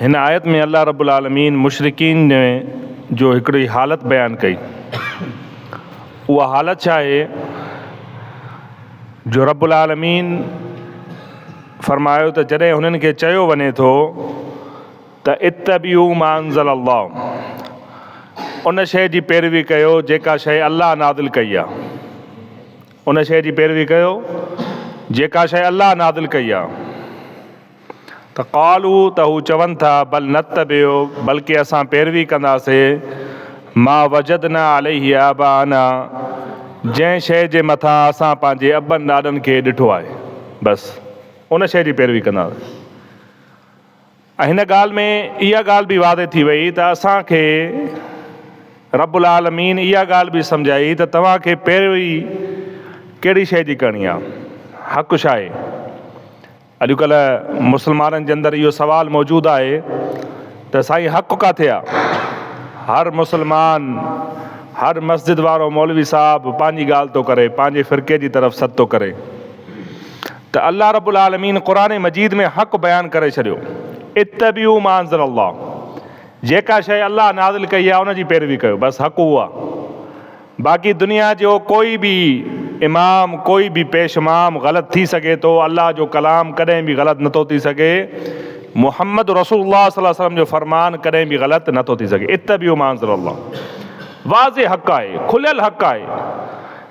هن آيت ۾ الله رب العالمين مشرڪين جو هڪڙي حالت بيان ڪئي. اها حالت ڇا آهي جو رب العالمين فرمايو ته جڏهن هنن کي چيو وڃي ٿو ته اتبعو ما انزل الله ان شيء جي پيروي ڪيو جيڪا شيء الله نازل ڪئي آهي ان شيء جي پيروي ڪيو جيڪا شيء الله نازل ڪئي آهي. ته قالو ته هو چون ٿا بل نتبع بلڪه اسان پيروي ڪنداسين ما وجدنا عليه آباءنا جنهن شيء جي مٿان اسان پنهنجي ابن ڏاڏن کي ڏٺو آهي بس ان شيء جي پيروي ڪنداسين ۽ هن ڳالهه ۾ اها ڳالهه به واضح ٿي وئي ته اسان کي رب العالمين اها ڳالهه به سمجهائي ته توهان کي پيروي ڪهڙي شيء جي ڪرڻي آهي حق شاهي اڄڪلهه مسلمانن جي اندر اهو سوال موجود آهي ته سائين حق ڪاٿي آ؟ هر مسلمان هر مسجد وارو مولوي صاحب پنهنجي ڳالهه ٿو ڪري پنهنجي فرقي جي طرف سڏ ٿو ڪري ته الله رب العالمين قرآن مجيد ۾ حق بيان ڪري ڇڏيو اتبعوا ما انزل الله جيڪا شيء الله نازل ڪئي آ ان جي پيروي ڪيو بس حق اهو آ باقي دنيا جو ڪوئي به امام ڪوئي به پيش مام غلط ٿي سگهي ٿو الله جو ڪلام ڪڏهن به غلط نه ٿو ٿي سگهي محمد رسول الله صلي الله عليه وسلم جو فرمان ڪڏهن به غلط نه ٿو ٿي سگهي اتبعوا ما انزل الله واضح حق آهي کليل حق آهي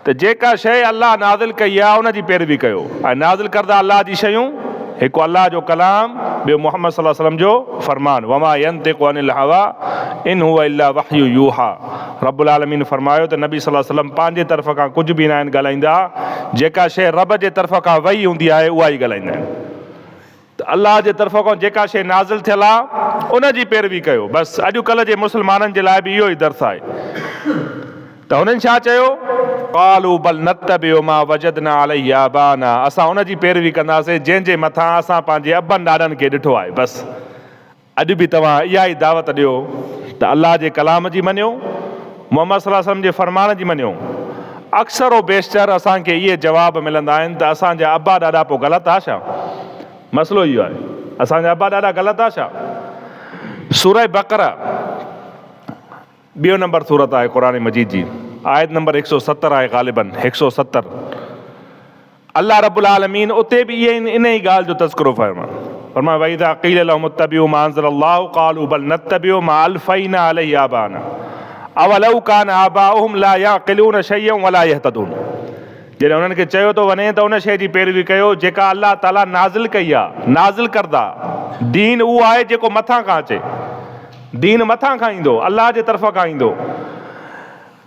ته جيڪا شيء الله نازل ڪئي آهي ان جي پيروي ڪيو ۽ نازل ڪرده الله جي شيون هڪ الله جو ڪلام ٻيو محمد صلي الله عليه وسلم جو فرمان وما ينطق عن الهويٰ ان هو الا وحي يوحيٰ رب العالمين فرمايو ته نبي صلي الله عليه وسلم پنهنجي طرف کان ڪجهه به ناهن ڳالهائيندا، جيڪا شيء رب جي طرف کان وحي هوندي آهي اها ئي ڳالهائيندا آهن. ته الله جي طرف کان جيڪا شيء نازل ٿيل آهي ان جي پيروي ڪيو. بس اڄ ڪلهه جي مسلمانن جي لاء به اهو ئي درس آهي. ته هنن ڇا چيو؟ قالوا بل نتبع ما وجدنا عليه آباءنا اسان ان جي پيروي ڪنداسين جنهن جي مٿان اسان پنهنجي ابن ڏاڏن کي ڏٺو آهي. بس! اڄ به توهان اها ئي دعوت ڏيو ته الله جي ڪلام جي مڃيو، محمد صلي الله عليه وسلم جي فرمان جي مڃيو. اڪثر و بيشتر اسان کي اهي جواب ملندا آهن ته اسان جا ابا ڏاڏا پوء غلط ها ڇا؟ مسئلو اهو آهي اسان جا ابا ڏاڏا غلط ها ڇا؟ سوره بقره. ٻيو نمبر سورت آهي قرآن مجيد جي آيت نمبر هڪ سؤ ستر آهي غالباً هڪ سؤ ستر الله رب العالمين اتي به اهي ان ئي ڳالهه جو تذڪرو فرمايو فرمايو واذا قيل لهم اتبعوا ما انزل الله قالوا بل نتبع ما الفينا عليه آبانا اولو كان آباؤهم لا يعقلون شيئا ولا يهتدون جڏهن انهن کي چيو ٿو وڃي ته ان شيء جي پيروي ڪيو جيڪا الله تعاليٰ نازل ڪئي آهي نازل ڪردا دين اهو آهي جيڪو مٿان کان اچي دين مٿان کان ايندو، الله جي طرف کان ايندو،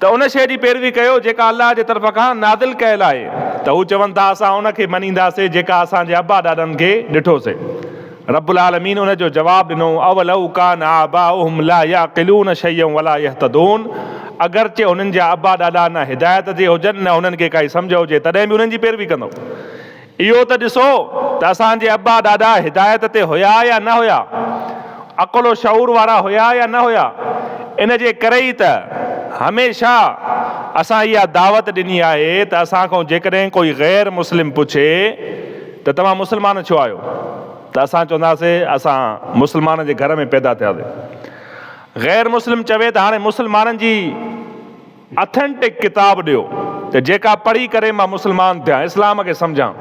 ته ان شيء جي پيروي ڪيو جيڪا الله جي طرف کان نازل ڪيل آهي، ته هو چون ٿا اسان ان کي مڃينداسين جيڪا اسان جي ابا ڏاڏن کي ڏٺوسين. رب العالمين ان جو جواب ڏنو، اولو ڪان آباؤهم لا يعقلون شيئا ولا يهتدون اگرچه هنن جا ابا ڏاڏا نه هدايت تي هجن نه هنن کي ڪائي سمجهه هجي تڏهن به انهن جي پيروي ڪندو. اهو ته ڏسو ته اسان جي ابا ڏاڏا هدايت تي هيا يا نه هيا، عقل و شعور وارا هيا يا نه هيا، ان جي ڪري ئي ته هميشه اسان اها دعوت ڏني آهي ته اسان کان جيڪڏهن ڪوئي غير مسلم پڇي ته توهان مسلمان ڇو آهيو ته اسان چونداسي اسان مسلمان جي گهر ۾ پيدا ٿياسي غير مسلم چوي ته هاڻي مسلمانن جي اٿينٽڪ ڪتاب ڏيو ته جيڪا پڙهي ڪري مان مسلمان ٿيان اسلام کي سمجهان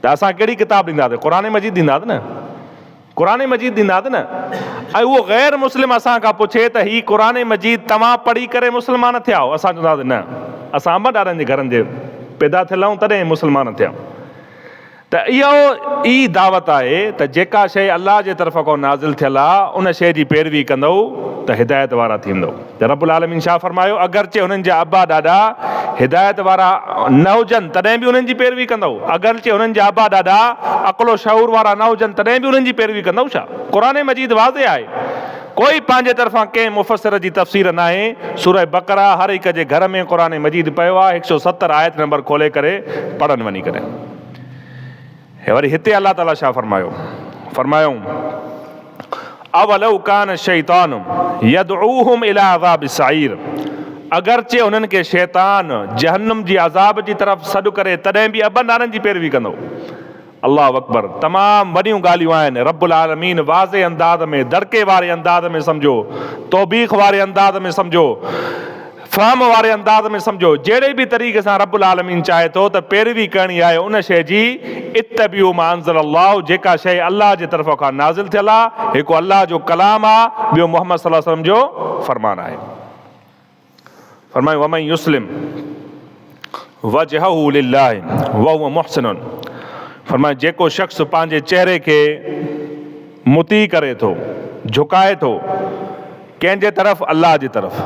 ته اسان ڪهڙي ڪتاب ڏينداسين قرآن مجيد ڏينداسين نه قرآن مجيد ڏينداسين نه ۽ اهو غير مسلم اسان کان پڇي ته هي قرآن مجيد توهان پڙهي ڪري مسلمان ٿيا آهو اسان چونداسين نه اسان امڙ ڏاڏن جي گهرن جي پيدا ٿيل آهيون تڏهن مسلمان ٿيا ته اها ئي دعوت آهي ته جيڪا شيء الله جي طرف کان نازل ٿيل آ، ان شيء جي پيروي ڪندؤ ته هدايت وارا ٿيندؤ. ته رب العالمين شاهه فرمايو، اگرچه هنن جا ابا ڏاڏا هدايت وارا نه هجن تڏهن به انهن جي پيروي ڪندؤ؟ اگرچه هنن جا ابا ڏاڏا عقل و شعور وارا نه هجن تڏهن به انهن جي پيروي ڪندؤ ڇا؟ قرآن مجيد واضح آهي. ڪوئي پنهنجي طرفان ڪنهن مفسر جي تفسير ناهي. سوره بقره هر هڪ جي گهر ۾ قرآن مجيد پيو آ، هڪ سؤ ستر آيت نمبر کولي ڪري پڙهن وڃي ڪري. ۽ وري هتي الله تعاليٰ ڇا فرمايو؟ فرمايائون، اولو ڪان الشيطان يدعوهم الي عذاب السعير اگرچه انهن کي شيطان جهنم جي عذاب جي طرف سڏ ڪري تڏهن به ابن نارن جي پيروي ڪندو. الله اڪبر تمام وڏيون ڳالهيون آهن رب العالمين واضح انداز ۾ دڙڪي واري انداز ۾ سمجهو توبيخ واري انداز ۾ سمجهو. فهم واري انداز ۾ سمجهو، جهڙي به طريقي سان رب العالمين چاهي ٿو ته پيروي ڪرڻي آهي ان شيء جي، اتبعوا ما انزل الله، جيڪا شيء الله جي طرفان کان نازل ٿيل آ، هڪ الله جو ڪلام آ، ٻيو محمد صلي الله عليه وسلم جو فرمان آهي. فرمايو ومن يسلم. وجهه لله وهو محسن فرمايو جيڪو شخص پنهنجي چهري کي مطيع ڪري ٿو، جهڪائي ٿو، ڪنهن جي طرف؟ الله جي طرف،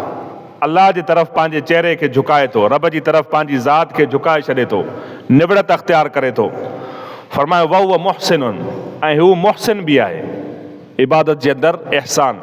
الله جي طرف پنهنجي چهري کي جهڪائي ٿو، رب جي طرف پنهنجي ذات کي جهڪائي ڇڏي ٿو، نوڙت اختيار ڪري ٿو، فرمايو وهو محسن ۽ هو محسن به آهي، عبادت جي اندر احسان.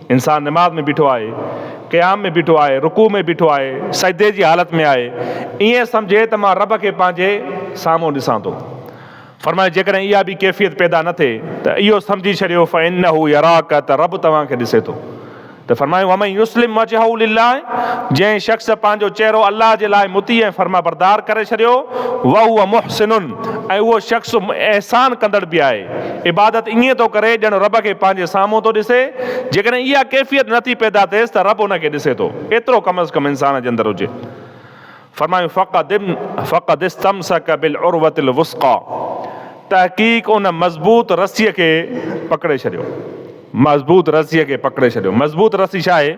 انسان نماز ۾ بيٺو آهي، قيام ۾ بيٺو آهي، رڪوع ۾ بيٺو آهي، سجدي جي حالت ۾ آهي، ائين سمجهي ته مان رب کي پنهنجي سامهون ڏسان ٿو. فرمايو جيڪڏهن اها به ڪيفيت پيدا نه ٿئي ته اهو سمجهي ڇڏيو فإنه يراک ته رب توهان کي ڏسي ٿو ته فرمايو ومن يسلم وجهه لله جنهن شخص پنهنجو چهرو الله جي لاء مطيع ۽ فرمانبردار ڪري ڇڏيو وهو محسن ۽ اهو شخص احسان ڪندڙ به آهي. عبادت ائين ٿو ڪري ڄڻ رب کي پنهنجي سامهون ٿو ڏسي. جيڪڏهن اها ڪيفيت نه ٿي پيدا ٿئيس ته رب ان کي ڏسي ٿو. ايترو ڪم از ڪم انسان جي اندر هجي. فرمايون فقد فقد استمسک بالعروة الوثقيٰ تحقيق ان مضبوط رسيء کي پڪڙي ڇڏيو. مضبوط رسيء کي پڪڙي ڇڏيو. مضبوط رسي ڇا آهي؟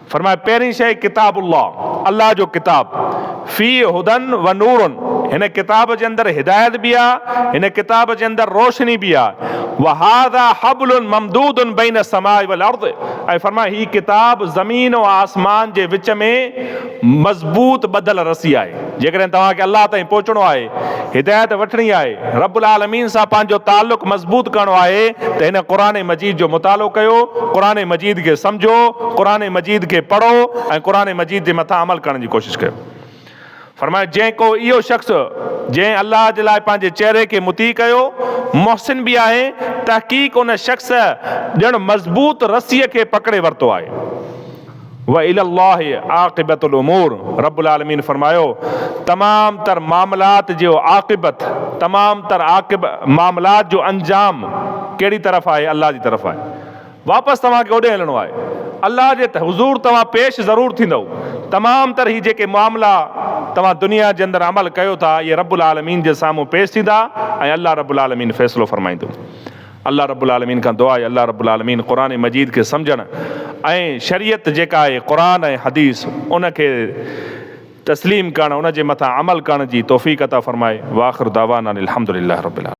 فرمايو پهرين شيء ڪتاب الله، الله جو ڪتاب، فيه هدًا و نور، هن ڪتاب جي اندر هدايت به آهي، هن ڪتاب جي اندر روشني به آهي، و هذا حبل ممدود بين السماء و الارض، ۽ فرمايو هي ڪتاب زمين ۽ آسمان جي وچ ۾ مضبوط ٻڌل رسي آهي. جيڪڏهن توهان کي الله تائين پهچڻو آهي، هدايت وٺڻي آهي، رب العالمين سان پنهنجو تعلق مضبوط ڪرڻو آهي ته هن قرآن مجيد جو مطالعو ڪيو، قرآن مجيد کي سمجهو، قرآن مجيد کي پڙهو ۽ قرآن مجيد جي مٿان عمل ڪرڻ جي ڪوشش ڪيو. فرمايو، جنهن ڪو اهو شخص جنهن الله جي لاء پنهنجي چهري کي مطيع ڪيو، محسن به آهي، تحقيق ان شخص ڄڻ مضبوط رسيء کي پڪڙي ورتو آهي. والي الله عاقبة الامور رب العالمين فرمايو تمام تر معاملات جيو عاقبت تمام تر عاقب معاملات جو انجام ڪهڙي طرف آهي الله جي طرف آهي واپس توهان کي اوڏي هلڻو آهي الله جي حضور توهان پيش ضرور ٿيندؤ تمام تر هي جيڪي معاملا توهان دنيا جي اندر عمل ڪيو ٿا اهي رب العالمين جي سامهون پيش ٿيندا ۽ الله رب العالمين فيصلو فرمائيندو. الله رب العالمين کان دعا آهي الله رب العالمين قرآن مجيد کي سمجهڻ ۽ شريعت جيڪا آهي قرآن ۽ حديث ان کي تسليم ڪرڻ ان جي مٿان عمل ڪرڻ جي توفيق عطا فرمائي واخر دعوانا ان الحمدلله رب العالمين.